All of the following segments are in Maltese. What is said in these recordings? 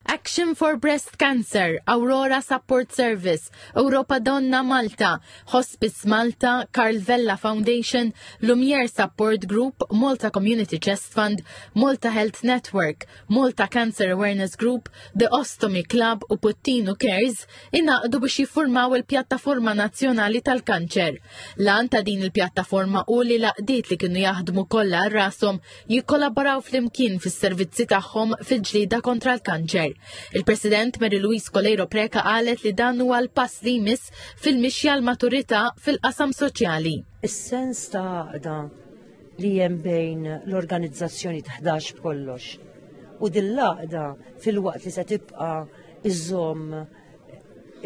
Action for Breast Cancer, Aurora Support Service, Europa Donna Malta, Hospice Malta, Carl Vella Foundation, Lumiere Support Group, Malta Community Chest Fund, Malta Health Network, Malta Cancer Awareness Group, The Ostomy Club u Puttinu Cares inaqdu biex jiffurmaw il-pjattaforma nazzjonali tal-kanċer. Lan ta' din il-pjattaforma u li laqdiet li kienu jaħdmu kollha rasom jikkollaboraw flimkien fis-servizzi tagħhom fil-ġlieda kontra l-kanċer. Il-President Mary Louise Coleiro Preca qalet li dan huwa l-pass li jmiss fil-mixja l-maturità fil-qasam soċjali. Is-sens ta' għaqda li hemm bejn l-organizzazzjoni taħdax b'kollox. U din l-għaqda fil-waqt li se tibqa' iżomm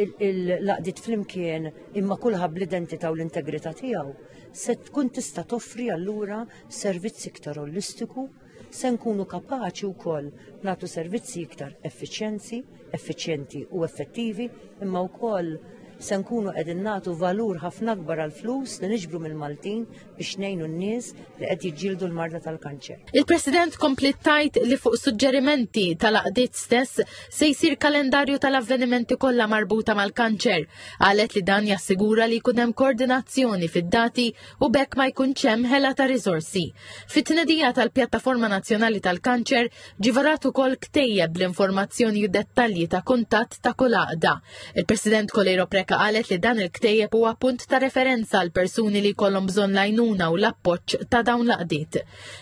il-laqdiet flimkien imma kulħadd bl-identità u l-integrità tiegħu se tkun tista' toffri allura servizz iktar olistiku, se nkunu kapaċi wkoll nagħtu servizzi iktar effiċjenzi, effiċjenti u effettivi, imma wkoll se nkunu qegħdin nagħtu valur ħafna akbar għal flus li niġbru mill-Maltin biex ngħinu n-nies li qed jiġġieldu l-marda tal-kanċer. Il-President komplet tajt li fuq suġġerimenti tal-aqdiet stess se jsir kalendarju tal-avvenimenti kollha marbuta mal-kanċer. Qalet li dan jassigura li jkun hemm koordinazzjoni fid-dati u bekk ma jkunx hemm ħela ta' riżorsi. Fit-tnedija tal-Pjattaforma Nazzjonali tal-Kanċer ġivarat ukoll ktejjeb bl-informazzjoni u dettalji ta' kuntatt ta' kull għaqda. Il-President Kolejro Preka qalet li dan il-ktejjeb huwa punt ta' referenza għal persuni li jkollhom bżonn lajnuna u l-appoġġ ta' dawn l-qdiet.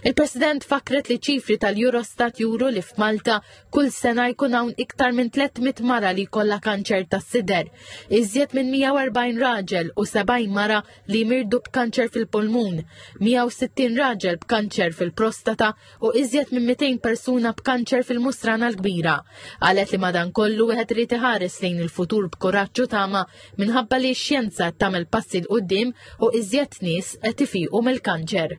Il-President fakret li ċifri tal-Eurostat juru li f'Malta kull sena jkun hawn iktar minn 300 mara li jkollha kanċer tas-sider, iżjed minn 140 raġel u 70 mara li jmirdu b'kanċer fil-pulmun, 160 raġel b'kanċer fil-prostata u iżjed minn 200 persuna b'kanċer fil-mustrana l-kbira. Għalet li madan kollu wieħed irid iħares lejn il-futur b'kuraġġ u tama minħabba li x-xjenza tagħmel passi l qudiem u iżjed nies qed ifiqu mill-kanċer.